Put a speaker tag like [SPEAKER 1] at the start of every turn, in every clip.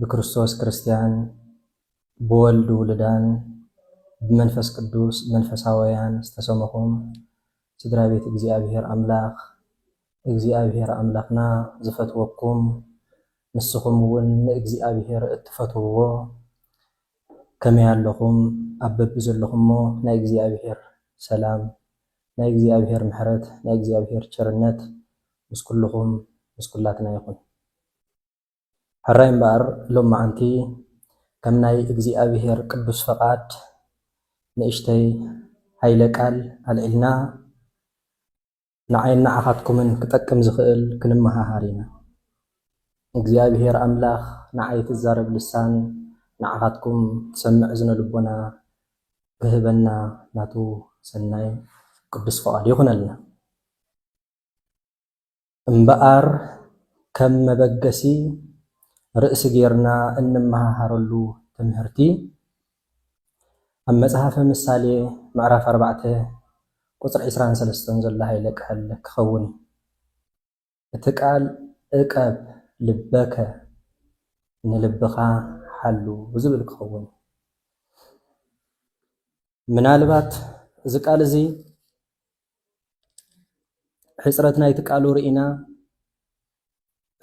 [SPEAKER 1] ብክርስቶስ ክርስትያን፣ ብወልድ ውሉዳን፣ ብመንፈስ ቅዱስ መንፈሳወያን ዝተሰመኹም ስድራ ቤት እግዚኣብሔር ኣምላኽ፣ እግዚኣብሔር ኣምላኽና ዝፈትወኩም ንስኹም እውን ንእግዚኣብሔር እትፈትውዎ ከመይ ኣለኹም? ኣብ በብዘለኹሞ ናይ እግዚኣብሔር ሰላም፣ ናይ እግዚኣብሔር ምሕረት፣ ናይ እግዚኣብሔር ቸርነት ምስ ኩልኹም ምስ ኩላትና ይኹን። ሕራይ እምበኣር ሎምዓንቲ ከም ናይ እግዚኣብሔር ቅዱስ ፈቃድ ንእሽተይ ኃይለ ቃል ኣልዒልና ንዓይን ንዓኻትኩምን ክጠቅም ዝኽእል ክንመሃሃር ኢና። እግዚኣብሔር ኣምላኽ ንዓይ ትዛረብ ልሳን ንዓኻትኩም ትሰምዕ እዝነ ልቦና ክህበና ናቱ ሰናይ ቅዱስ ፈቃዱ ይኹነልና። እምበኣር ከም መበገሲ ርእሲ ጌርና እንመሃሃረሉ ትምህርቲ ኣብ መጽሃፈ ምሳሌ ምዕራፍ ኣርባዕተ ቁጽሪ ዕስራን ሰለስተን ዘሎ ሃይለ ቃል ክኸውን እዩ። እቲ ቃል እቀብ ልበከ ንልብኻ ሓሉ ዝብል ክኸውን እዩ። ምናልባት እዚ ቃል እዚ ሕጽረት ናይቲ ቃሉ ርኢና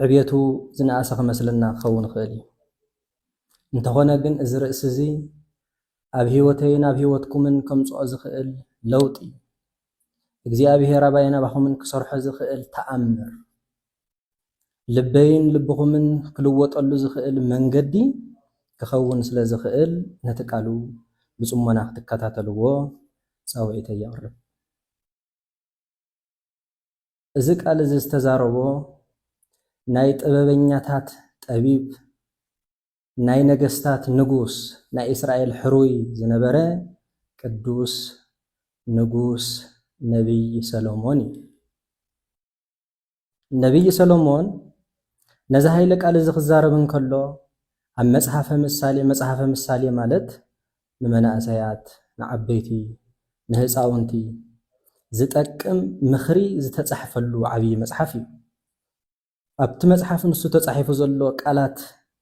[SPEAKER 1] ዕብየቱ ዝነኣሰ ክመስለና ክኸውን ይኽእል እዩ። እንተኾነ ግን እዚ ርእሲ እዚ ኣብ ህይወተይን ኣብ ህይወትኩምን ከምጽኦ ዝኽእል ለውጢ እግዚኣብሔር ኣባይን ኣባኹምን ክሰርሖ ዝኽእል ተኣምር ልበይን ልብኹምን ክልወጠሉ ዝኽእል መንገዲ ክኸውን ስለ ዝኽእል ነቲ ቃሉ ብጽሞና ክትከታተልዎ ጻውዒተይ የቕርብ። እዚ ቃል እዚ ዝተዛረቦ ናይ ጥበበኛታት ጠቢብ፣ ናይ ነገስታት ንጉስ፣ ናይ እስራኤል ሕሩይ ዝነበረ ቅዱስ ንጉስ ነቢይ ሰሎሞን እዩ። ነብዪ ሰሎሞን ነዚ ኃይለ ቃል እዚ ክዛረብ እንከሎ ኣብ መጽሓፈ ምሳሌ መጽሓፈ ምሳሌ ማለት ንመናእሰያት፣ ንዓበይቲ፣ ንህፃውንቲ ዝጠቅም ምኽሪ ዝተጻሕፈሉ ዓብዪ መጽሓፍ እዩ። ኣብቲ መጽሓፍ ንሱ ተጻሒፉ ዘሎ ቃላት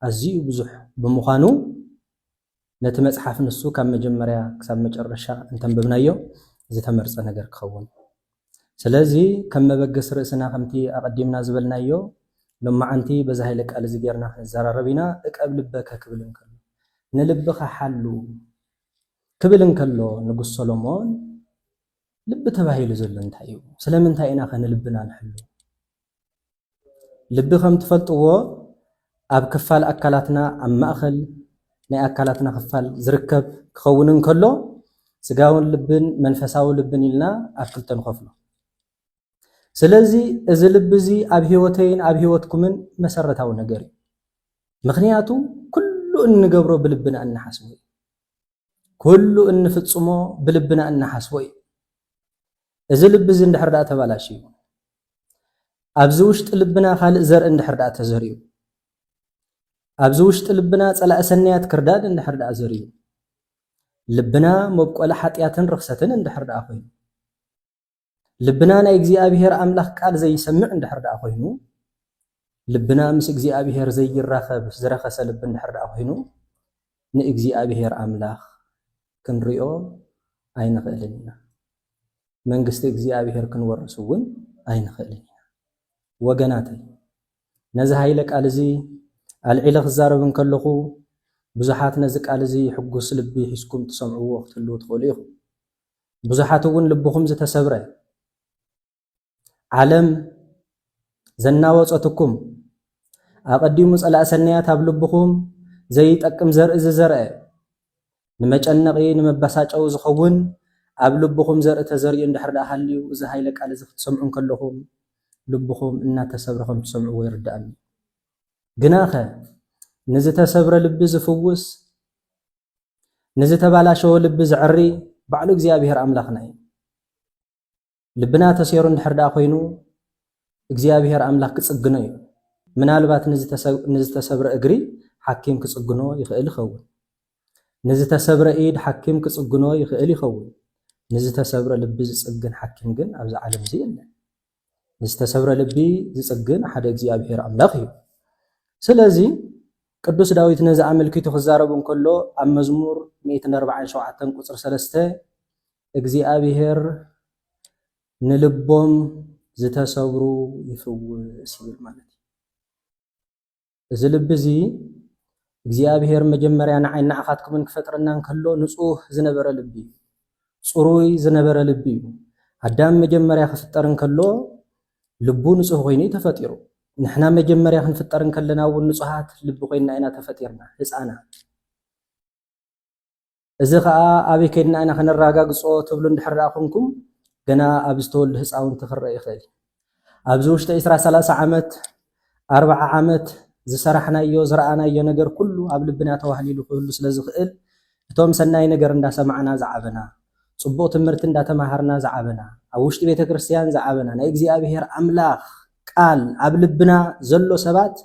[SPEAKER 1] ኣዝዩ ብዙሕ ብምዃኑ ነቲ መጽሓፍ ንሱ ካብ መጀመርያ ክሳብ መጨረሻ እንተንበብናዮ ዝተመርጸ ነገር ክኸውን። ስለዚ ከም መበገሲ ርእስና ከምቲ ኣቐዲምና ዝበልናዮ ሎምዓንቲ በዚ ሃይለ ቃል እዚ ጌርና ክንዘራረብ ኢና፣ እቀብ ልበከ ክብል እንከሎ። ንልብኻ ሓሉ ክብል እንከሎ ንጉስ ሰሎሞን፣ ልቢ ተባሂሉ ዘሎ እንታይ እዩ? ስለምንታይ ኢናኸ ንልብና ንሕሉ? ልቢ ከም ትፈልጥዎ ኣብ ክፋል ኣካላትና ኣብ ማእኸል ናይ ኣካላትና ክፋል ዝርከብ ክኸውን እንከሎ ስጋውን ልብን መንፈሳዊ ልብን ኢልና ኣብ ክልተ ንኸፍሎ። ስለዚ እዚ ልቢ እዚ ኣብ ህይወተይን ኣብ ህይወትኩምን መሰረታዊ ነገር እዩ። ምክንያቱ ኩሉ እንገብሮ ብልብና እንሓስቦ እዩ። ኩሉ እንፍጽሞ ብልብና እንሓስቦ እዩ። እዚ ልቢ እዚ እንድሕር ደኣ ተባላሽዩ ኣብዚ ውሽጢ ልብና ካልእ ዘርኢ እንድሕር ደኣ ተዘርዩ ኣብዚ ውሽጢ ልብና ጸላእ ሰናያት ክርዳድ እንድሕር ደኣ ዘርዩ ልብና መብቆሊ ሓጢኣትን ርኽሰትን እንድሕር ደኣ ኮይኑ ልብና ናይ እግዚኣብሄር ኣምላኽ ቃል ዘይሰምዕ እንድሕር ደኣ ኮይኑ፣ ልብና ምስ እግዚኣብሄር ዘይራኸብ ዝረኸሰ ልቢ እንድሕር ደኣ ኮይኑ፣ ንእግዚኣብሄር ኣምላኽ ክንሪኦ ኣይንኽእልን ኢና። መንግስቲ እግዚኣብሄር ክንወርስ እውን ኣይንኽእልን ኢና። ወገናተይ ነዚ ሃይለ ቃል እዚ ኣልዒለ ክዛረብ እንከለኹ ብዙሓት ነዚ ቃል እዚ ሕጉስ ልቢ ሒዝኩም ትሰምዕዎ ክትህልዉ ትኽእሉ ኢኹም። ብዙሓት እውን ልብኹም ዝተሰብረ ዓለም ዘናወጸትኩም ኣቐዲሙ ጸላእ ሰናያት ኣብ ልብኹም ዘይጠቅም ዘርኢ ዝዘርአ ንመጨነቒ ንመበሳጨዊ ዝኸውን ኣብ ልብኹም ዘርኢ ተዘሪኡ እንድሕር ደኣ ሃልዩ እዚ ሃይለ ቃል እዚ ክትሰምዑ እንከለኹም ልብኹም እናተሰብረ ከም ትሰምዕዎ ይርድኣኒ ግናኸ ንዝተሰብረ ልቢ ዝፍውስ ንዝተባላሸወ ልቢ ዘዕሪ ባዕሉ እግዚኣብሔር ኣምላኽና እዩ። ልብና ተሴሩ እንድሕር ደኣ ኮይኑ እግዚኣብሔር ኣምላኽ ክጽግኖ እዩ። ምናልባት ንዝተሰብረ እግሪ ሓኪም ክጽግኖ ይኽእል ይኸውን። ንዝተሰብረ ኢድ ሓኪም ክጽግኖ ይኽእል ይኸውን። ንዝተሰብረ ልቢ ዝጽግን ሓኪም ግን ኣብዚ ዓለም እዚ የለን። ንዝተሰብረ ልቢ ዝጽግን ሓደ እግዚኣብሔር ኣምላኽ እዩ። ስለዚ ቅዱስ ዳዊት ነዚ ኣመልኪቱ ክዛረብ እንከሎ ኣብ መዝሙር 147 ቁጽሪ 3 እግዚኣብሔር ንልቦም ዝተሰብሩ ይፍውስ ይብል ማለት እዩ። እዚ ልቢ እዚ እግዚኣብሄር መጀመርያ ንዓይን ንዓኻትኩምን ክፈጥረና እንከሎ ንጹህ ዝነበረ ልቢ እዩ። ጽሩይ ዝነበረ ልቢ እዩ። ኣዳም መጀመርያ ክፍጠር እንከሎ ልቡ ንጹህ ኮይኑ እዩ ተፈጢሩ። ንሕና መጀመርያ ክንፍጠር እንከለና እውን ንጹሃት ልቢ ኮይና ኢና ተፈጢርና ህጻናት። እዚ ከኣ ኣበይ ከድና ኢና ከነራጋግጾ ትብሉ እንድሕር ደኣ ኮንኩም ገና ኣብ ዝተወልዱ ህጻውንቲ ክረእ ይኽእል እዩ። ኣብዚ ውሽጢ ዕስራ ሰላሳ ዓመት ኣርብዓ ዓመት ዝሰራሕናዮ ዝረኣናዮ ነገር ኩሉ ኣብ ልብና ተዋህሊሉ ክህሉ ስለ ዝኽእል እቶም ሰናይ ነገር እንዳሰማዕና ዝዓበና ጽቡቕ ትምርቲ እንዳተማሃርና ዝዓበና ኣብ ውሽጢ ቤተ ክርስትያን ዝዓበና ናይ እግዚኣብሔር ኣምላኽ ቃል ኣብ ልብና ዘሎ ሰባት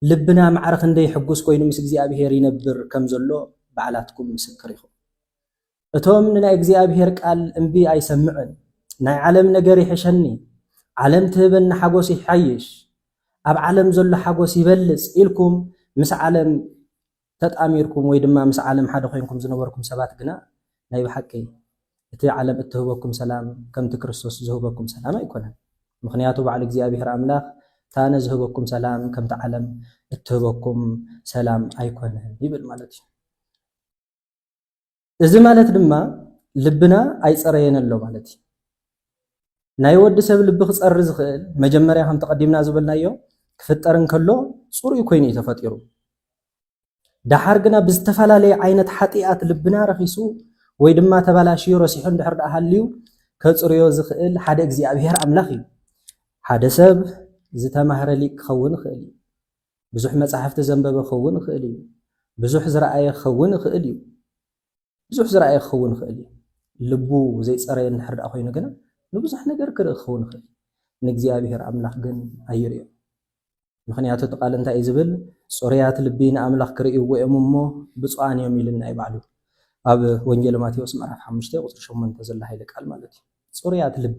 [SPEAKER 1] ልብና ማዕረ ክንደይ ሕጉስ ኮይኑ ምስ እግዚኣብሄር ይነብር ከም ዘሎ ባዕላትኩም ምስክር ኢኹም። እቶም ንናይ እግዚኣብሄር ቃል እምቢ ኣይሰምዕን ናይ ዓለም ነገር ይሕሸኒ፣ ዓለም ትህበኒ ሓጎስ ይሓይሽ፣ ኣብ ዓለም ዘሎ ሓጎስ ይበልጽ ኢልኩም ምስ ዓለም ተጣሚርኩም ወይ ድማ ምስ ዓለም ሓደ ኮይንኩም ዝነበርኩም ሰባት ግና ናይ ብሓቂ እቲ ዓለም እትህበኩም ሰላም ከምቲ ክርስቶስ ዝህበኩም ሰላም ኣይኮነን። ምኽንያቱ ባዕሉ እግዚኣብሔር ኣምላኽ ታነ ዝህበኩም ሰላም ከምቲ ዓለም እትህበኩም ሰላም ኣይኮነን ይብል ማለት እዩ። እዚ ማለት ድማ ልብና ኣይጸረየን ኣሎ ማለት እዩ። ናይ ወዲ ሰብ ልቢ ክጸሪ ዝኽእል መጀመርያ ከም ተቐዲምና ዝበልናዮ ክፍጠር እንከሎ ጽሩይ ኮይኑ እዩ ተፈጢሩ። ደሓር ግና ብዝተፈላለየ ዓይነት ሓጢኣት ልብና ረኺሱ ወይ ድማ ተባላሽዩ ረሲሑ እንድሕር ደኣ ሃልዩ ከጽርዮ ዝኽእል ሓደ እግዚኣብሔር ኣምላኽ እዩ። ሓደ ሰብ ዝተማህረ ሊቅ ክኸውን ይኽእል እዩ። ብዙሕ መጻሕፍቲ ዘንበበ ክኸውን ይኽእል እዩ። ብዙሕ ዝረኣየ ክኸውን ይኽእል እዩ። ብዙሕ ዝረኣየ ክኸውን ይኽእል እዩ። ልቡ ዘይጸረየ እንድሕር ደኣ ኮይኑ ግና ንብዙሕ ነገር ክርኢ ክኸውን ይኽእል እዩ። ንእግዚኣብሔር ኣምላኽ ግን ኣይርእዮ። ምኽንያቱ እቲ ቃል እንታይ እዩ ዝብል? ጽሩያት ልቢ ንኣምላኽ ክርእይዎ እዮም እሞ ብፁዓን እዮም ኢልና እዩ ባዕሉ። ኣብ ወንጌል ማቴዎስ ምዕራፍ ሓሙሽተ ቁጽሪ ሸሞንተ ዘሎ ኃይለ ቃል ማለት እዩ። ጽሩያት ልቢ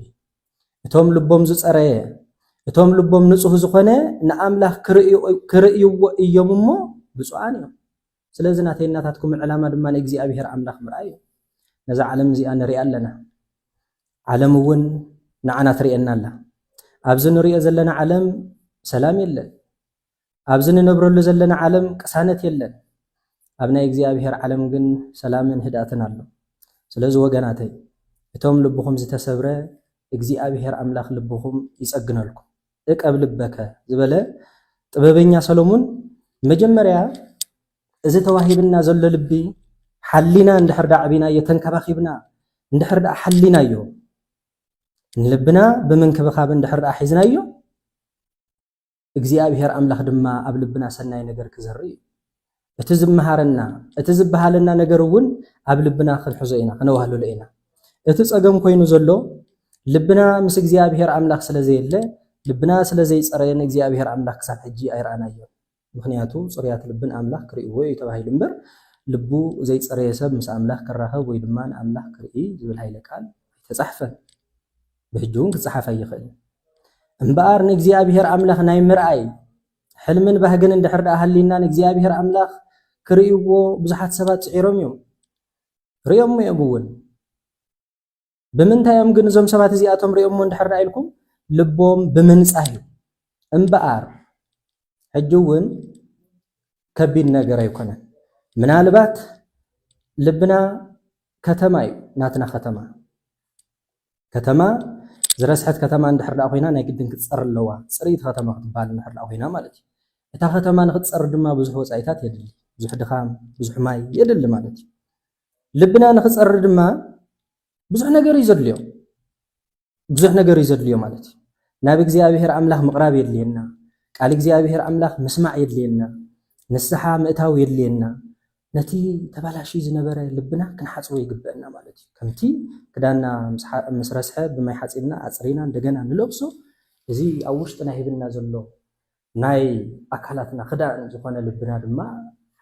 [SPEAKER 1] እቶም ልቦም ዝጸረየ፣ እቶም ልቦም ንጹህ ዝኾነ ንኣምላኽ ክርእይዎ እዮም እሞ ብጹኣን እዮም። ስለዚ ናተይን ናታትኩምን ዕላማ ድማ ንእግዚኣብሄር ኣምላኽ ምርኣይ እዩ። ነዛ ዓለም እዚኣ ንሪኣ ኣለና፣ ዓለም እውን ንዓና ትርእየና ኣላ። ኣብዚ ንሪኦ ዘለና ዓለም ሰላም የለን። ኣብዚ ንነብረሉ ዘለና ዓለም ቅሳነት የለን ኣብ ናይ እግዚኣብሔር ዓለም ግን ሰላምን ህድኣትን ኣሎ ስለዚ ወገናተይ እቶም ልብኹም ዝተሰብረ እግዚኣብሔር ኣምላክ ልብኹም ይጸግነልኩም እቀብ ልበከ ዝበለ ጥበበኛ ሰሎሙን መጀመርያ እዚ ተዋሂብና ዘሎ ልቢ ሓሊና እንድሕር ዳኣ ዕቢናዮ ተንከባኺብና እንድሕር ዳኣ ሓሊናዮ ንልብና ብምንክብኻብ እንድሕር ዳኣ ሒዝናዮ እግዚኣብሄር ኣምላኽ ድማ ኣብ ልብና ሰናይ ነገር ክዘርእ እዩ። እቲ ዝመሃረና እቲ ዝበሃለና ነገር እውን ኣብ ልብና ክንሕዞ ኢና ክነዋህልሎ ኢና። እቲ ጸገም ኮይኑ ዘሎ ልብና ምስ እግዚኣብሄር ኣምላኽ ስለ ዘየለ ልብና ስለ ዘይጸረየ ንእግዚኣብሄር ኣምላኽ ክሳብ ሕጂ ኣይረኣናዮ። ምክንያቱ ጽሩያት ልብን ኣምላኽ ክርእይዎ እዩ ተባሂሉ እምበር ልቡ ዘይጸረየ ሰብ ምስ ኣምላኽ ክራኸብ ወይ ድማ ንኣምላኽ ክርኢ ዝብል ሃይለ ቃል ኣይተጻሕፈን። ብሕጂ እውን ክጸሓፍ ኣይኽእልን። እምበኣር ንእግዚኣብሄር ኣምላኽ ናይ ምርኣይ ሕልምን ባህግን እንድሕር ደኣ ሃልዩና ንእግዚኣብሄር ኣምላኽ ክርእይዎ ብዙሓት ሰባት ጽዒሮም እዮም። ርእዮሞ እዮም እውን ብምንታይ እዮም ግን እዞም ሰባት እዚኣቶም ርእዮሞ እንድሕር ደኣ ኢልኩም ልቦም ብምንጻህ እዩ እምበኣር ሕጂ እውን ከቢድ ነገር ኣይኮነን ምናልባት ልብና ከተማ እዩ ናትና ከተማ ከተማ ዝረስሐት ከተማ እንድሕር ደኣ ኮይና ናይ ግድን ክትጸሪ ኣለዋ፣ ጽርይቲ ከተማ ክትበሃል እንድሕር ደኣ ኮይና ማለት እዩ። እታ ከተማ ንክትጸሪ ድማ ብዙሕ ወጻኢታት የድሊ፣ ብዙሕ ድኻም፣ ብዙሕ ማይ የድሊ ማለት እዩ። ልብና ንክጸሪ ድማ ብዙሕ ነገር እዩ ዘድልዮ፣ ብዙሕ ነገር እዩ ዘድልዮ ማለት እዩ። ናብ እግዚኣብሔር ኣምላኽ ምቕራብ የድልየና ቃል እግዚኣብሔር ኣምላኽ ምስማዕ የድልየና ንስሓ ምእታው የድልየና ነቲ ተባላሽዩ ዝነበረ ልብና ክንሓጽቦ ይግበእና ማለት እዩ። ከምቲ ክዳንና ምስ ረስሐ ብማይ ሓጺብና ኣጽሪና እንደገና ንለብሶ፣ እዚ ኣብ ውሽጥና ሂብና ዘሎ ናይ ኣካላትና ክዳን ዝኾነ ልብና ድማ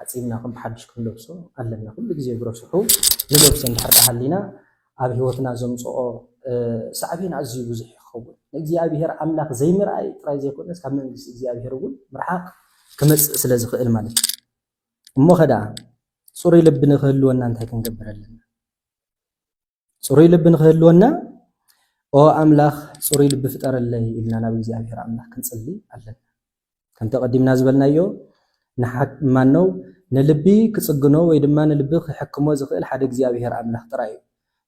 [SPEAKER 1] ሓጺብና ከም ብሓድሽ ክንለብሶ ኣለና። ኩሉ ግዜ ብረስሑ ንለብሶ እንድሕር ደኣ ሃሊና ኣብ ህይወትና ዘምጽኦ ሳዕቤን ኣዝዩ ብዙሕ እዩ ክኸውን። ንእግዚኣብሄር ኣምላኽ ዘይምርኣይ ጥራይ ዘይኮነስ ካብ መንግስቲ እግዚኣብሄር እውን ምርሓቕ ክመጽእ ስለ ዝኽእል ማለት እዩ። እሞኸ ደኣ ፅሩይ ልቢ ንክህልወና እንታይ ክንገብር ኣለና? ፅሩይ ልቢ ንክህልወና ኦ ኣምላኽ ፅሩይ ልቢ ፍጠረለይ ኢልና ናብ እግዚኣብሔር ኣምላኽ ክንፅሊ ኣለና። ከምቲ ቀዲምና ዝበልናዮ ማነው ንልቢ ክፅግኖ ወይ ድማ ንልቢ ክሕክሞ ዝኽእል ሓደ እግዚኣብሔር ኣምላኽ ጥራይ እዩ።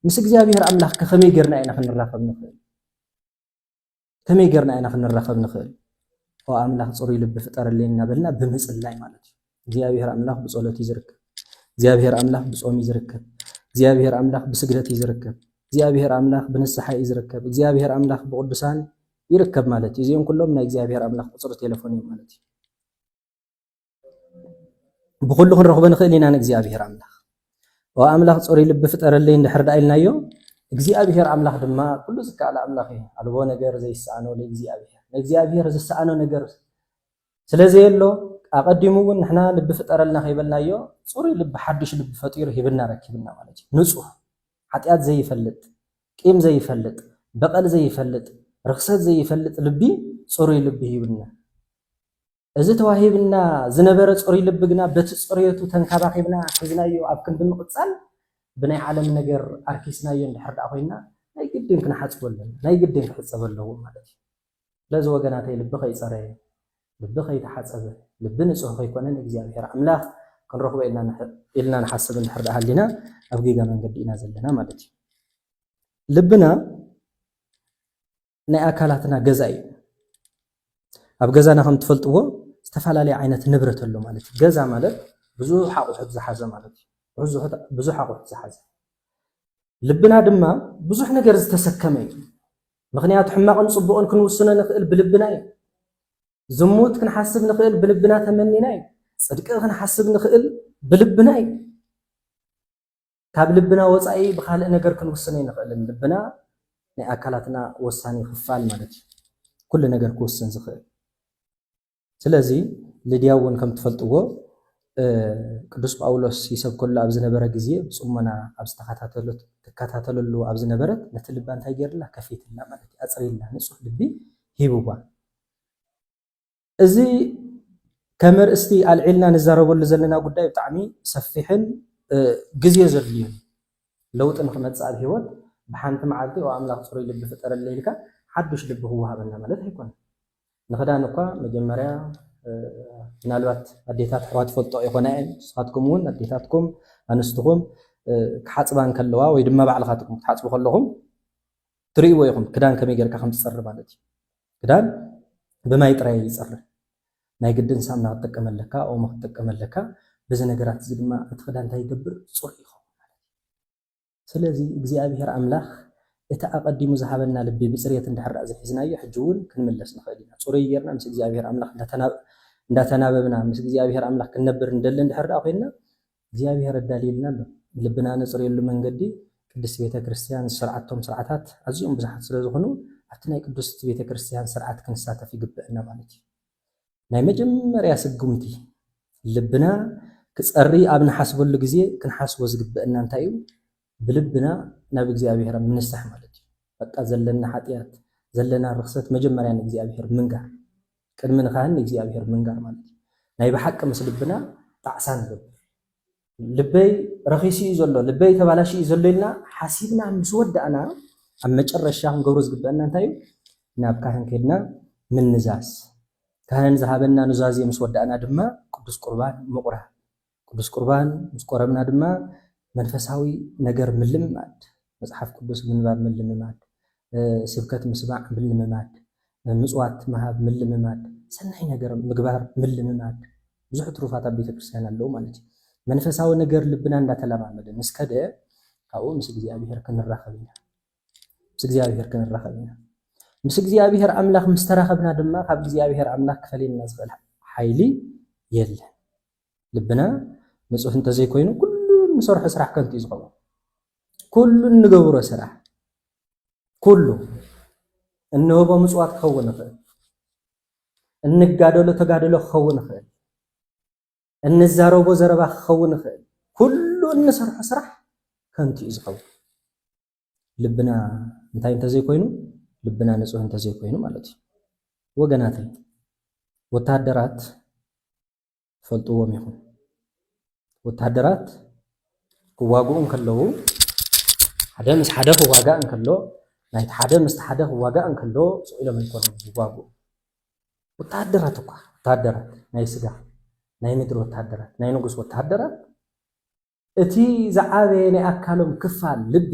[SPEAKER 1] ምስ እግዚኣብሔር ኣምላኽ ከመይ ጌርና ኢና ክንራኸብ ንኽእል? ከመይ ጌርና ኢና ክንራኸብ ንኽእል? ኦ ኣምላኽ ጽሩይ ልቢ ፍጠረለይ እናበልና ብምጽላይ ማለት እዩ። እግዚኣብሔር ኣምላኽ ብጸሎት እዩ ዝርከብ። እግዚኣብሔር ኣምላኽ ብጾም እዩ ዝርከብ። እግዚኣብሔር ኣምላኽ ብስግደት እዩ ዝርከብ። እግዚኣብሔር ኣምላኽ ብንስሓ እዩ ዝርከብ። እግዚኣብሔር ኣምላኽ ብቅዱሳን ይርከብ ማለት እዩ። እዚኦም ኩሎም ናይ እግዚኣብሔር ኣምላኽ ቁጽሪ ቴሌፎን እዮም ማለት እዩ። ብኹሉ ክንረኽቦ ንኽእል ኢና ንእግዚኣብሔር ኣምላኽ ኦ ኣምላኽ ፅሩይ ልቢ ፍጠረለይ እንድሕር ደኣ ኢልናዮ እግዚኣብሔር ኣምላኽ ድማ ኩሉ ዝከኣል ኣምላኽ እዩ ኣልቦ ነገር ዘይሰኣኖ ንእግዚኣብሔር ንእግዚኣብሔር ዝሰኣኖ ነገር ስለዘየሎ ኣቐዲሙ እውን ንሕና ልቢ ፍጠረልና ከይበልናዮ ፅሩይ ልቢ ሓድሽ ልቢ ፈጢሩ ሂብና ረኪብና ማለት እዩ ንፁህ ሓጢኣት ዘይፈልጥ ቂም ዘይፈልጥ በቐል ዘይፈልጥ ርክሰት ዘይፈልጥ ልቢ ፅሩይ ልቢ ሂብና እዚ ተዋሂብና ዝነበረ ጽሩይ ልቢ ግና በቲ ጽርየቱ ተንካባኺብና ሒዝናዮ ኣብ ክንዲ ምቕጻል ብናይ ዓለም ነገር ኣርኪስናዮ እንድሕር ደኣ ኮይንና ናይ ግድን ክንሓጽቦ ኣለና፣ ናይ ግድን ክሕጸብ ኣለዎ ማለት እዩ። ስለዚ ወገናተይ ልቢ ከይጸረየ፣ ልቢ ከይተሓጸበ፣ ልቢ ንጹህ ከይኮነ ንእግዚኣብሔር ኣምላኽ ክንረኽቦ ኢልና ንሓስብ እንድሕር ደኣ ሃሊና ኣብ ጌጋ መንገዲ ኢና ዘለና ማለት እዩ። ልብና ናይ ኣካላትና ገዛ እዩ ኣብ ገዛና ከም ትፈልጥዎ ዝተፈላለየ ዓይነት ንብረት ኣሎ ማለት እዩ ገዛ ማለት ብዙሕ ኣቑሑት ዝሓዘ ማለት እዩ ብዙሕ ኣቑሑት ዝሓዘ ልብና ድማ ብዙሕ ነገር ዝተሰከመ እዩ ምክንያቱ ሕማቕን ፅቡቕን ክንውስኖ ንኽእል ብልብና እዩ ዝሙት ክንሓስብ ንኽእል ብልብና ተመኒና እዩ ፅድቂ ክንሓስብ ንኽእል ብልብና እዩ ካብ ልብና ወፃኢ ብኻልእ ነገር ክንውስን ኣይንኽእልን። ልብና ናይ ኣካላትና ወሳኒ ክፋል ማለት እዩ። ኩሉ ነገር ክውስን ዝኽእል። ስለዚ ልድያ እውን ከም ትፈልጥዎ ቅዱስ ጳውሎስ ይሰብከሉ ኣብ ዝነበረ ግዜ ብጽሞና ኣብ ዝተኸታተሉት ትከታተለሉ ኣብ ዝነበረት ነቲ ልባ እንታይ ገይርላ ከፊትላ ማለት እዩ ኣጽሪላ ንጹህ ልቢ ሂብዋ እዚ ከመርእስቲ ኣልዒልና ንዛረበሉ ዘለና ጉዳይ ብጣዕሚ ሰፊሕን ግዜ ዘድልዮን እዩ። ለውጢ ንክመፅእ ኣብ ሂወት ብሓንቲ መዓልቲ ኦ ኣምላኽ ፅሩይ ልቢ ፍጠረለይ ኢልካ ሓዱሽ ልቢ ክወሃበና ማለት ኣይኮነን። ንክዳን እኳ መጀመርያ ምናልባት ኣዴታት ኣሕዋት ይፈልጥኦ ይኾና እየን ንስኻትኩም እውን ኣዴታትኩም ኣንስትኹም ክሓፅባ እንከለዋ ወይ ድማ ባዕልኻትኩም ክትሓፅቡ ከለኹም ትርእይዎ ኢኹም ክዳን ከመይ ጌርካ ከም ዝፀሪ ማለት እዩ። ክዳን ብማይ ጥራይ ኣይጸርን ናይ ግድን ሳምና ክትጥቀም ኣለካ ኦሞ ክትጥቀም ኣለካ በዚ ነገራት እዚ ድማ እቲ ክዳን እንታይ ይገብር ጽሩይ ይኸውን ማለት እዩ ስለዚ እግዚኣብሄር ኣምላኽ እቲ ኣቐዲሙ ዝሃበና ልቢ ብጽሬት እንድሕር ደኣ ዘይሒዝናዮ ሕጂ እውን ክንምለስ ንኽእል ኢና ጽሩይ ጌርና ምስ እግዚኣብሄር ኣምላኽ እንዳተናበብና ምስ እግዚኣብሄር ኣምላኽ ክንነብር ንደሊ እንድሕር ደኣ ኮይንና እግዚኣብሔር ኣዳልዩልና ኣሎ። ልብና ነጽርየሉ መንገዲ ቅድስት ቤተ ክርስቲያን ዝሰርዓቶም ስርዓታት ኣዝዮም ብዙሓት ስለ ዝኹኑ ኣብቲ ናይ ቅዱስት ቤተ ክርስቲያን ስርዓት ክንሳተፍ ይግበእና ማለት እዩ። ናይ መጀመርያ ስጉምቲ ልብና ክጸሪ ኣብ ንሓስበሉ ግዜ ክንሓስቦ ዝግበእና እንታይ እዩ? ብልብና ናብ እግዚኣብሔር ኣብ ምንሳሕ ማለት እዩ። በቃ ዘለና ሓጢኣት ዘለና ርኽሰት መጀመርያ ንእግዚኣብሔር ምንጋር። ቅድሚ ንካህን ንእግዚኣብሔር ምንጋር ማለት እዩ። ናይ ብሓቂ ምስ ልብና ጣዕሳ ንገብር። ልበይ ረኺሱ እዩ ዘሎ፣ ልበይ ተባላሽዩ እዩ ዘሎ ኢልና ሓሲብና ምስ ወዳእና ኣብ መጨረሻ ክንገብሮ ዝግበአና እንታይ እዩ? ናብ ካህን ከድና ምንዛዝ። ካህን ዝሃበና ኑዛዜ ምስ ወዳእና ድማ ቅዱስ ቁርባን ምቑራብ። ቅዱስ ቍርባን ምስ ቈረብና ድማ መንፈሳዊ ነገር ምልምማድ፣ መጽሓፍ ቅዱስ ምንባብ ምልምማድ፣ ስብከት ምስማዕ ምልምማድ፣ ምጽዋት ምሃብ ምልምማድ፣ ሰናይ ነገር ምግባር ምልምማድ፣ ብዙሕ ትሩፋት ኣብ ቤተ ክርስቲያን ኣለዉ ማለት እዩ። መንፈሳዊ ነገር ልብና እንዳተለማመደ ምስ ከደ ካብኡ ምስ እግዚኣብሔር ክንራኸብ ኢና። ምስ እግዚኣብሔር ክንራኸብ ኢና። ምስ እግዚኣብሔር ኣምላኽ ምስ ተራኸብና ድማ ካብ እግዚኣብሔር ኣምላኽ ክፈልየና ዝኽእል ሓይሊ የለን። ልብና ንጹህ እንተዘይኮይኑ ኩሉ እንሰርሖ ስራሕ ከንቱ እዩ ዝኸውን። ኩሉ እንገብሮ ስራሕ ኩሉ እንህቦ ምጽዋት ክኸውን ይኽእል፣ እንጋደሎ ተጋድሎ ክኸውን ይኽእል፣ እንዛረቦ ዘረባ ክኸውን ይኽእል። ኩሉ እንሰርሖ ስራሕ ከንቱ እዩ ዝኸውን። ልብና እንታይ እንተዘይኮይኑ ልብና ንጹህ እንተዘይኮይኑ ማለት እዩ። ወገናተይ ወታደራት ትፈልጥዎም ኢኹም። ወተሃደራት ክዋግኡ እንከለዉ ሓደ ምስ ሓደ ክዋጋእ እንከሎ ናይቲ ሓደ ምስቲ ሓደ ክዋጋእ እንከሎ ስቕ ኢሎም ኣይኮኑን ዝዋግኡ ወተሃደራት እኳ ወተሃደራት ናይ ስጋ ናይ ምድሪ ወተሃደራት ናይ ንጉስ ወተሃደራት እቲ ዝዓበየ ናይ ኣካሎም ክፋል ልቢ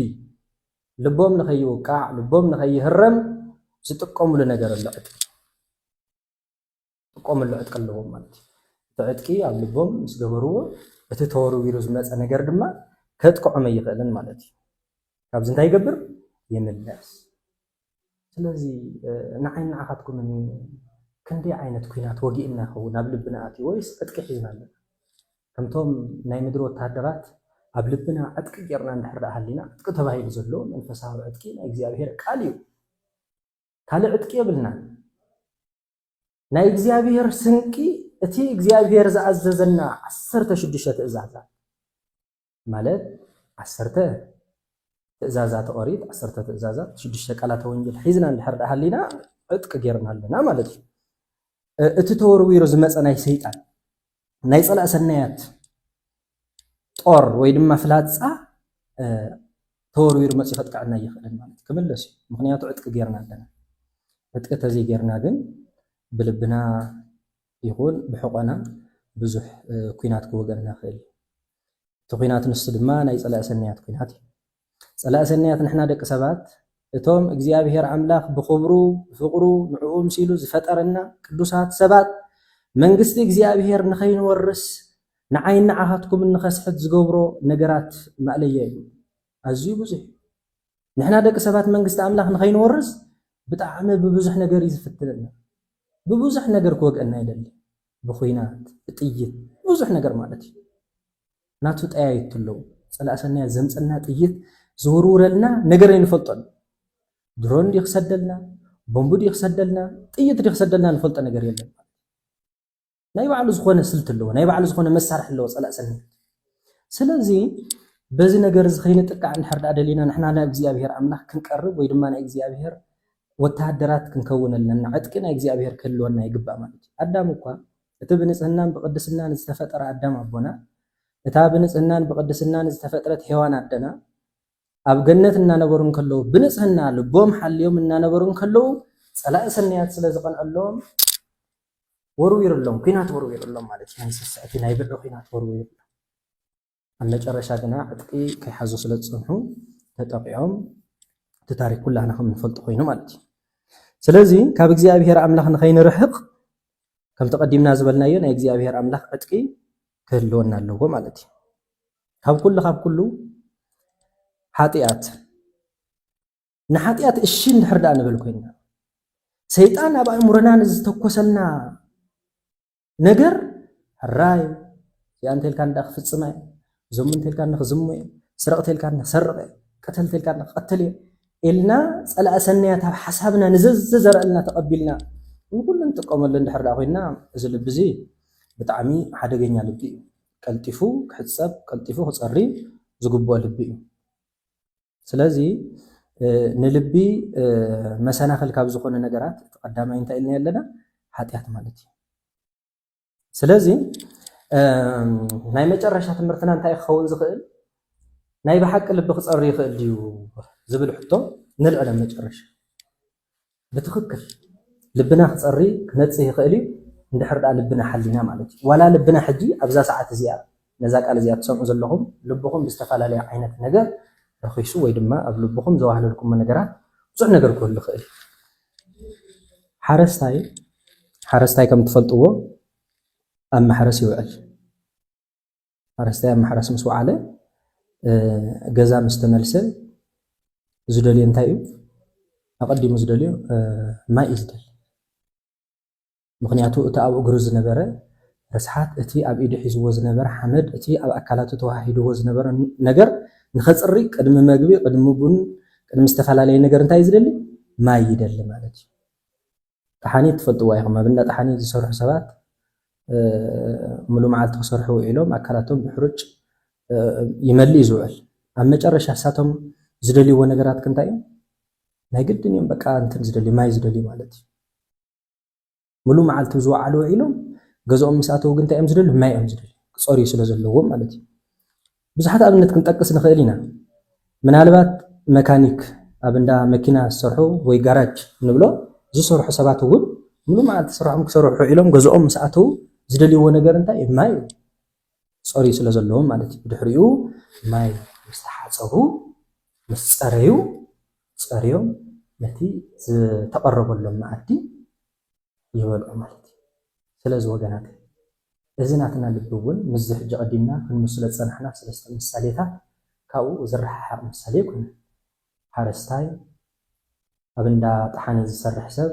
[SPEAKER 1] ልቦም ንኸይውቃዕ ልቦም ንኸይህረም ዝጥቀሙሉ ነገር ኣሎ ዕጥቂ ክጥቀሙሉ ዕጥቂ ኣለዎም ማለት እዩ። እቲ ዕጥቂ ኣብ ልቦም ምስ ገበርዎ እቲ ተወርዊሩ ዝመጸ ነገር ድማ ከጥቅዖም ኣይኽእልን ማለት እዩ። ካብዚ እንታይ ይገብር? ይምለስ። ስለዚ ንዓይን ንዓኻትኩምን ክንደይ ዓይነት ኩናት ወጊእና ይኸውን ኣብ ልብና ኣትዩ ወይስ ዕጥቂ ሒዝና ኣለና? ከምቶም ናይ ምድሪ ወተሃደራት ኣብ ልብና ዕጥቂ ጌርና እንድሕር ደኣ ሃሊና ዕጥቂ ተባሂሉ ዘሎ መንፈሳዊ ዕጥቂ ናይ እግዚኣብሄር ቃል እዩ። ካልእ ዕጥቂ የብልናን። ናይ እግዚኣብሔር ስንቂ እቲ እግዚኣብሔር ዝኣዘዘና ዓሰርተ ሽዱሽተ ትእዛዛት ማለት ዓሰርተ ትእዛዛት ኦሪት ዓሰርተ ትእዛዛት ሽዱሽተ ቃላተ ወንጌል ሒዝና እንድሕር ደኣ ሃሊና ዕጥቂ ጌርና ኣለና ማለት እዩ እቲ ተወርዊሩ ዝመፀ ናይ ሰይጣን ናይ ጸላእ ሰናያት ጦር ወይ ድማ ፍላጻ ተወርዊሩ መጽዩ ከጥቅዐና ኣይኽእልን ማለት ክምለስ እዩ ምክንያቱ ዕጥቂ ጌርና ኣለና ዕጥቂ ተዘይ ጌርና ግን ብልብና ይኹን ብሕቆና ብዙሕ ኩናት ክወገና ይኽእል እዩ እቲ ኩናት ንሱ ድማ ናይ ጸላኢ ሰናያት ኩናት እዩ ጸላኢ ሰናያት ንሕና ደቂ ሰባት እቶም እግዚኣብሔር ኣምላኽ ብኽብሩ ብፍቕሩ ንዕኡ ምሲሉ ዝፈጠረና ቅዱሳት ሰባት መንግስቲ እግዚኣብሔር ንኸይንወርስ ንዓይን ንዓኻትኩምን ንኸስሕት ዝገብሮ ነገራት ማእለያ እዩ ኣዝዩ ብዙሕ እዩ ንሕና ደቂ ሰባት መንግስቲ ኣምላኽ ንኸይንወርስ ብጣዕሚ ብብዙሕ ነገር እዩ ዝፍትነና ብብዙሕ ነገር ክወግአና ይደሊ ብኹናት ብጥይት ብዙሕ ነገር ማለት እዩ ናቱ ጠያይቱ ኣለዉ ጸላኢ ሰናያት ዘምጸልና ጥይት ዝውርውረልና ነገር ኣይንፈልጦን ድሮን ዲ ክሰደልና ቦምብ ዲ ክሰደልና ጥይት ዲ ክሰደልና ንፈልጦ ነገር የለን ናይ ባዕሉ ዝኾነ ስልት ኣለዎ ናይ ባዕሉ ዝኾነ መሳርሒ ኣለዎ ጸላእ ሰኒ ስለዚ በዚ ነገር እዚ ከይንጥቃዕ እንድሕር ዳኣ ደሊና ንሕና ናብ እግዚኣብሄር ኣምላኽ ክንቀርብ ወይ ድማ ናይ እግዚኣብሄር ወተሃደራት ክንከውን ኣለና ዕጥቂ ናይ እግዚኣብሄር ክህልወና ይግባእ ማለት እዩ ኣዳም እኳ እቲ ብንጽህናን ብቅድስናን ዝተፈጠረ ኣዳም ኣቦና፣ እታ ብንጽህናን ብቅድስናን ዝተፈጥረት ሄዋን ኣደና፣ ኣብ ገነት እናነበሩ እንከለዉ ብንጽህና ልቦም ሓልዮም እናነበሩ እንከለዉ፣ ጸላኢ ሰናያት ስለ ዝቀንዐሎም ወርዊርሎም፣ ኩናት ወርዊርሎም ማለት እዩ፣ ናይ ስስዐቲ ናይ ብዕዕ ኩናት ወርዊርሎም። ኣብ መጨረሻ ግና ዕጥቂ ከይሓዙ ስለ ዝጸንሑ ተጠቒዖም እቲ ታሪክ ኩላህና ከም ንፈልጦ ኮይኑ ማለት እዩ። ስለዚ ካብ እግዚኣብሄር ኣምላኽ ንኸይንርሕቕ ከምቲ ቀዲምና ዝበልናዮ ናይ እግዚኣብሄር ኣምላኽ ዕጥቂ ክህልወና ኣለዎ ማለት እዩ። ካብ ኩሉ ካብ ኩሉ ሓጢኣት ንሓጢኣት እሺ እንድሕር ደኣ ንብል ኮይና ሰይጣን ኣብ ኣእምሮና ንዝተኮሰልና ነገር ሕራይ እዚኣ እንተልካኒ ዳ ክፍፅማ እየ እዞም እንተልካኒ ክዝሙ እየ ስረቕ ተልካኒ ክሰርቕ እየ ቀተል ተልካኒ ክቐትል እየ ኢልና ፀላእ ሰናያት ኣብ ሓሳብና ንዘዘዘረእልና ተቐቢልና ንኩሉ ንጥቀመሉ እንድሕር ዳ ኮይና እዚ ልቢ እዚ ብጣዕሚ ሓደገኛ ልቢ እዩ ቀልጢፉ ክሕፀብ ቀልጢፉ ክፀሪ ዝግብኦ ልቢ እዩ ስለዚ ንልቢ መሰናኽል ካብ ዝኾነ ነገራት እቲ ቀዳማይ እንታይ ኢልና ኣለና? ሓጢኣት ማለት እዩ። ስለዚ ናይ መጨረሻ ትምህርትና እንታይ ክኸውን ዝኽእል ናይ ብሓቂ ልቢ ክፀሪ ይኽእል ድዩ ዝብል ሕቶ ንልዕለ መጨረሻ ብትኽክል ልብና ክጸሪ ክነጽህ ይኽእል እዩ እንድሕር ድኣ ልብና ሓሊና ማለት እዩ ዋላ ልብና ሕጂ ኣብዛ ሰዓት እዚኣ ነዛ ቃል እዚኣ ትሰምዑ ዘለኹም ልብኹም ብዝተፈላለየ ዓይነት ነገር ረኺሱ ወይ ድማ ኣብ ልብኹም ዘዋህለልኩሞ ነገራት ብዙሕ ነገር ክህሉ ይኽእል ሓረስታይ ሓረስታይ ከም ትፈልጥዎ ኣብ ማሕረስ ይውዕል ሓረስታይ ኣብ ማሕረስ ምስ ወዓለ ገዛ ምስ ተመልሰ ዝደልዮ እንታይ እዩ? ኣቐዲሙ ዝደልዮ ማይ እዩ ዝደሊ። ምክንያቱ እቲ ኣብ እግሩ ዝነበረ ርስሓት፣ እቲ ኣብ ኢዱ ሒዝዎ ዝነበረ ሓመድ፣ እቲ ኣብ ኣካላቱ ተዋሃሂድዎ ዝነበረ ነገር ንኸፅሪ ቅድሚ መግቢ፣ ቅድሚ ቡን፣ ቅድሚ ዝተፈላለየ ነገር እንታይ እዩ ዝደሊ? ማይ ይደሊ ማለት እዩ። ጠሓኒት ትፈልጥዋ ኢኹም ኣብ እንዳ ጠሓኒት ዝሰርሑ ሰባት ሙሉእ መዓልቲ ክሰርሑ ውዒሎም ኣካላቶም ብሕሩጭ ይመልእ እዩ ዝውዕል ኣብ መጨረሻ እሳቶም ዝደልይዎ ነገራት ክንታይ እዩ ናይ ግድን እዮም በቃ እንትን ዝደልዩ ማይ ዝደልዩ ማለት እዩ ሙሉእ መዓልቲ ዝወዓሉ ውዒሎም ገዝኦም ምስ ኣተው ግን እንታይ እዮም ዝደልዩ ማይ እዮም ዝደልዩ ክፀርዩ ስለ ዘለዎም ማለት እዩ ብዙሓት ኣብነት ክንጠቅስ ንኽእል ኢና። ምናልባት መካኒክ፣ ኣብ እንዳ መኪና ዝሰርሑ ወይ ጋራጅ ንብሎ ዝሰርሑ ሰባት እውን ምሉእ መዓልቲ ስርሖም ክሰርሑ ውዒሎም ገዝኦም ምስ ኣተዉ ዝደልይዎ ነገር እንታይ እዩ? ማይ እዩ። ክጸርዩ ስለ ዘለዎም ማለት እዩ። ብድሕሪኡ ማይ ምስ ተሓጸቡ፣ ምስ ጸረዩ፣ ጸርዮም ነቲ ዝተቐረበሎም መኣዲ ይበልዑ ማለት እዩ። ስለዚ ወገናተይ እዚ ናትና ልቢ እውን ምስዚ ሕጂ ቀዲምና ክንምስሎ ዝጸናሕና ሰለስተ ምሳሌታት ካብኡ ዝረሓሓቕ ምሳሌ ኣይኮነን። ሓረስታይ፣ ኣብ እንዳ ጠሓነ ዝሰርሕ ሰብ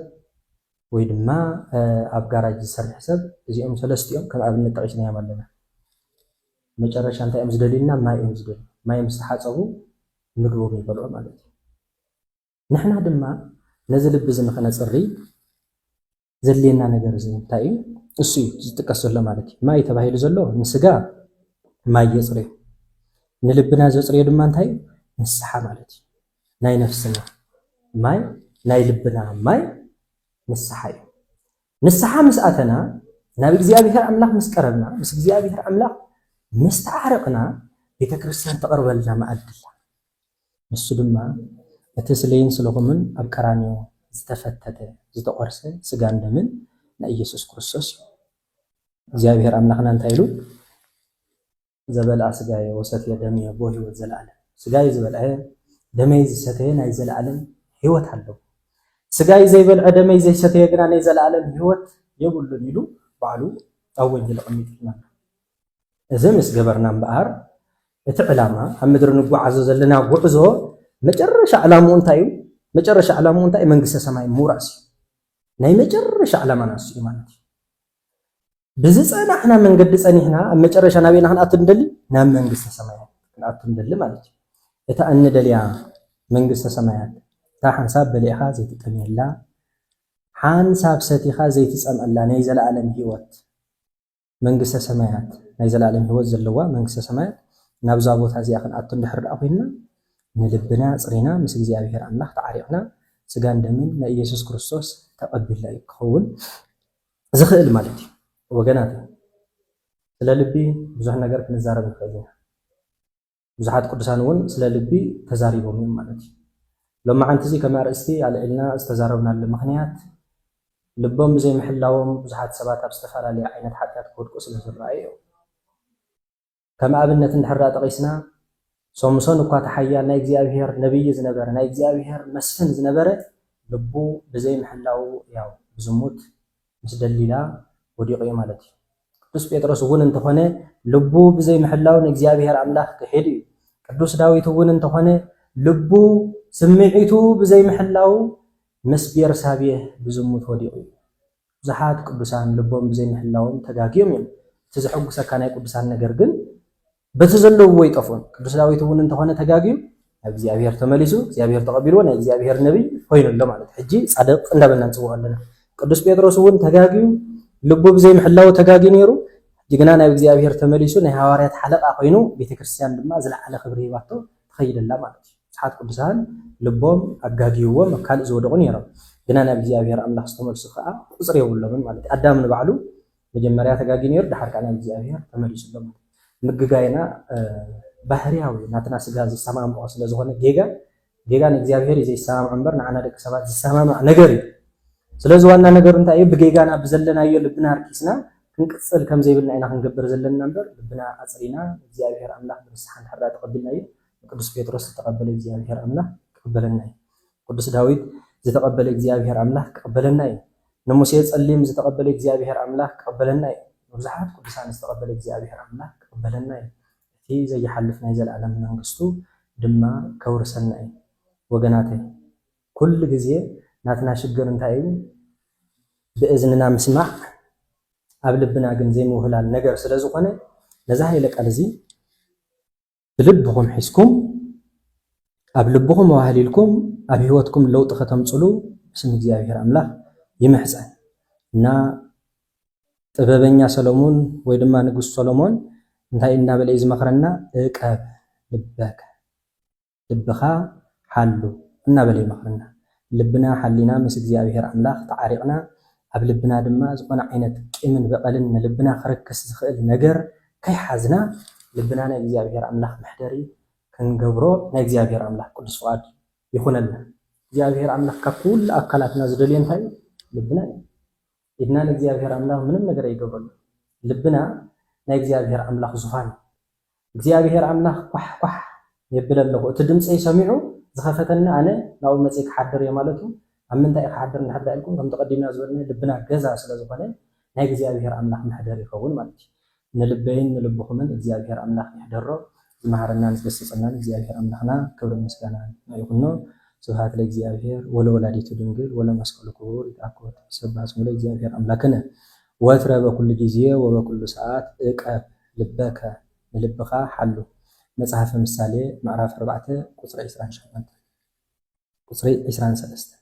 [SPEAKER 1] ወይ ድማ ኣብ ጋራጅ ዝሰርሕ ሰብ እዚኦም ሰለስቲኦም ከም ኣብነት ጠቒስናዮም ኣለና። መጨረሻ እንታይ እዮም ዝደልዩልና? ማይ እዮም ዝደልዩ። ማይ ምስ ተሓጸቡ ምግቦም ይበልዑ ማለት እዩ። ንሕና ድማ ነዚ ልቢ እዚ ንኸነጽሪ ዘድልየና ነገር እዚ እንታይ እዩ? እሱ እዩ ዝጥቀስ ዘሎ ማለት እዩ። ማይ ተባሂሉ ዘሎ ንስጋ ማይ የጽርዮ፣ ንልብና ዘጽርዮ ድማ እንታይ እዩ? ንስሓ ማለት እዩ። ናይ ነፍስና ማይ ናይ ልብና ማይ ንስሓ እዩ። ንስሓ ምስ ኣተና ናብ እግዚኣብሔር ኣምላኽ ምስ ቀረብና ምስ እግዚኣብሔር ኣምላኽ ምስ ተዓረቕና ቤተ ክርስቲያን ተቕርበልና መኣዲ ኣላ። ንሱ ድማ እቲ ስለይን ስለኹምን ኣብ ቀራንዮ ዝተፈተተ ዝተቖርሰ ስጋን ደምን ናይ ኢየሱስ ክርስቶስ እዩ። እግዚኣብሔር ኣምላኽና እንታይ ኢሉ ዘበልኣ ስጋየ ወሰትየ ደምየ ቦ ሕይወት ዘለዓለም ስጋይ ዝበልዐ ደመይ ዝሰተየ ናይ ዘለዓለም ሕይወት ኣለዎ ስጋይ ዘይበልዐ ደመይ ዘይሰተየ ግና ናይ ዘለዓለም ሕይወት የብሉን ኢሉ ባዕሉ ኣብ ወንጌል ኣቐሚጥልና ኣሎ። እዚ ምስ ገበርና እምበኣር እቲ ዕላማ ኣብ ምድሪ ንጓዓዞ ዘለና ጉዕዞ መጨረሻ ዕላምኡ እንታይ እዩ? መጨረሻ ዕላምኡ እንታይ መንግስተ ሰማይ ምውራስ እዩ። ናይ መጨረሻ ዕላማና ንሱ እዩ ማለት እዩ። ብዝጸናሕና መንገዲ ጸኒሕና ኣብ መጨረሻ ናበይና ክንኣቱ ንደሊ ናብ መንግስተ ሰማያት ክንኣቱ ንደሊ ማለት እዩ እታ እንደልያ መንግስተ ሰማያት እታ ሓንሳብ በሊዕኻ ዘይትጠምየላ ሓንሳብ ሰቲኻ ዘይትጸምአላ ናይ ዘለኣለም ህይወት መንግስተ ሰማያት ናይ ዘለኣለም ህይወት ዘለዋ መንግስተ ሰማያት ናብዛ ቦታ እዚኣ ክንኣቱ እንድሕር ደኣ ኮይንና ንልብና ኣጽሪና ምስ እግዚኣብሔር ኣምላኽ ተዓሪቕና ስጋን ደምን ናይ ኢየሱስ ክርስቶስ ተቐቢልና እዩ ክኸውን ዝኽእል ማለት እዩ ወገናት ስለ ልቢ ብዙሕ ነገር ክንዛረብ ንኽእል ኢና ብዙሓት ቅዱሳን እውን ስለ ልቢ ተዛሪቦም እዮም ማለት እዩ። ሎማዓንቲ እዚ ከም ኣርእስቲ ኣልዒልና ዝተዛረብናሉ ምኽንያት ልቦም ብዘይምሕላዎም ብዙሓት ሰባት ኣብ ዝተፈላለየ ዓይነት ሓጢኣት ክወድቁ ስለ ዝረኣዩ እዮም። ከም ኣብነት እንድሕር ዳኣ ጠቒስና ሶምሶን እኳ እቲ ሓያል ናይ እግዚኣብሄር ነብዪ ዝነበረ ናይ እግዚኣብሄር መስፍን ዝነበረ ልቡ ብዘይምሕላዉ ያው ብዝሙት ምስ ደሊላ ወዲቑ እዩ ማለት እዩ። ቅዱስ ጴጥሮስ እውን እንተኾነ ልቡ ብዘይምሕላው ንእግዚኣብሔር ኣምላኽ ክሒዱ እዩ። ቅዱስ ዳዊት እውን እንተኾነ ልቡ ስምዒቱ ብዘይምሕላው ምስ ቤርሳቤህ ብዝሙት ወዲቑ እዩ። ብዙሓት ቅዱሳን ልቦም ብዘይምሕላዎም ተጋግዮም እዮም። እቲ ዘሐጉሰካ ናይ ቅዱሳን ነገር ግን በቲ ዘለውዎ ይጠፍኡን። ቅዱስ ዳዊት እውን እንተኾነ ተጋግዩ ናብ እግዚኣብሔር ተመሊሱ እግዚኣብሔር ተቐቢልዎ ናይ እግዚኣብሔር ነቢይ ኮይኑ ኣሎ ማለት ሕጂ ጻድቕ እንዳበልና ንጽውዖ ኣለና። ቅዱስ ጴጥሮስ እውን ተጋግዩ ልቡ ብዘይምሕላው ተጋግዩ ነይሩ ሕጂ ግና ናብ እግዚኣብሔር ተመሊሱ ናይ ሃዋርያት ሓለቓ ኮይኑ ቤተ ክርስቲያን ድማ ዝለዓለ ክብሪ ሂባቶ ትኸይድ ኣላ ማለት እዩ። ብዙሓት ቅዱሳን ልቦም ኣጋግይዎም ኣብ ካልእ ዝወደቑ ነይሮም ግና ናብ እግዚኣብሔር ኣምላኽ ዝተመልሱ ከዓ ቁጽሪ የብሎምን ማለት እዩ። ኣዳም ንባዕሉ መጀመርያ ተጋግዩ ነይሩ ደሓር ከኣ ናብ እግዚኣብሔር ተመሊሱ ኣሎ ማለት እዩ። ምግጋይና ባህርያዊ ናትና ስጋ ዝሰማምዖ ስለ ዝኾነ ጌጋ ጌጋ ንእግዚኣብሔር እዩ ዘይሰማምዖ እምበር ንዓና ደቂ ሰባት ዝሰማማዕ ነገር እዩ። ስለዚ ዋና ነገሩ እንታይ እዩ ብጌጋና ብዘለናዮ ልብና ኣርኪስና ክንቅጽል ከም ዘይብልና ኢና ክንገብር ዘለና እምበር ልብና ኣጽሪና ንእግዚኣብሔር ኣምላኽ ብንስሓ እንድሕር ተቐቢልናዮ ንቅዱስ ጴጥሮስ ዝተቐበለ እግዚኣብሔር ኣምላኽ ክቕበለና እዩ። ቅዱስ ዳዊት ዝተቐበለ እግዚኣብሔር ኣምላኽ ክቕበለና እዩ። ንሙሴ ጸሊም ዝተቐበለ እግዚኣብሄር ኣምላኽ ክቕበለና እዩ። ንብዙሓት ቅዱሳን ዝተቐበለ እግዚኣብሄር ኣምላኽ ክቕበለና እዩ። እቲ ዘይሓልፍ ናይ ዘለኣለም መንግስቱ ድማ ከውርሰና እዩ። ወገናተይ ኩሉ ግዜ ናትና ሽግር እንታይ እዩ ብእዝንና ምስማዕ ኣብ ልብና ግን ዘይምውህላል ነገር ስለዝኾነ ነዚ ሃይለ ቃል እዚ ብልብኹም ሒዝኩም ኣብ ልብኹም ኣዋህሊልኩም ኣብ ህይወትኩም ለውጢ ከተምፅሉ ብስም እግዚኣብሔር ኣምላኽ ይምሕፀን እና ጥበበኛ ሰለሙን ወይ ድማ ንጉስ ሰሎሞን እንታይ እናበለ እዩ ዝመኽረና እቀብ ልበከ ልብኻ ሓሉ እናበለ ይመኽረና ልብና ሓሊና ምስ እግዚኣብሄር ኣምላኽ ተዓሪቕና ኣብ ልብና ድማ ዝኾነ ዓይነት ቂምን በቐልን ንልብና ክረክስ ዝኽእል ነገር ከይሓዝና ልብና ናይ እግዚኣብሄር ኣምላኽ መሕደሪ ክንገብሮ ናይ እግዚኣብሄር ኣምላኽ ቅዱስ ፍቓድ ይኹነልና። እግዚኣብሄር ኣምላኽ ካብ ኩሉ ኣካላትና ዝደልዮ እንታይ እዩ? ልብና እዩ። ኢድና ንእግዚኣብሔር ኣምላኽ ምንም ነገር ኣይገብረሉን ልብና ናይ እግዚኣብሔር ኣምላኽ ዙፋን እዩ እግዚኣብሔር ኣምላኽ ኳሕ ኳሕ የብል ኣለኹ እቲ ድምፀይ ሰሚዑ ዝኸፈተኒ ኣነ ናብኡ መፅየ ክሓድር እየ ማለቱ ኣብ ምንታይ እዩ ክሓድር እንድሕር ዳኢልኩም ከምቲ ቀዲምና ዝበልናዮ ልብና ገዛ ስለዝኾነ ናይ እግዚኣብሔር ኣምላኽ መሕደሪ ይኸውን ማለት እዩ ንልበይን ንልብኹምን እግዚኣብሔር ኣምላኽ ይሕደሮ ዝመሃረናን ዝገሰጸናን እግዚኣብሔር ኣምላኽና ክብርን ምስጋናን ንዑ ይኹኖ ስብሃት ለእግዚኣብሔር ወለወላዲቱ ድንግል ወለመስቀሉ ክቡር ይትኣኮት ይሰባህ ስሙ ለእግዚኣብሔር ኣምላክነ ወትረ በኩሉ ጊዜ ወበኩሉ ሰዓት እቀብ ልበከ ንልብኻ ሓሉ መጽሐፈ ምሳሌ ምዕራፍ ኣርባዕተ ቁጽሪ ዕስራን ሸሞንተን ቁጽሪ ዕስራን ሰለስተን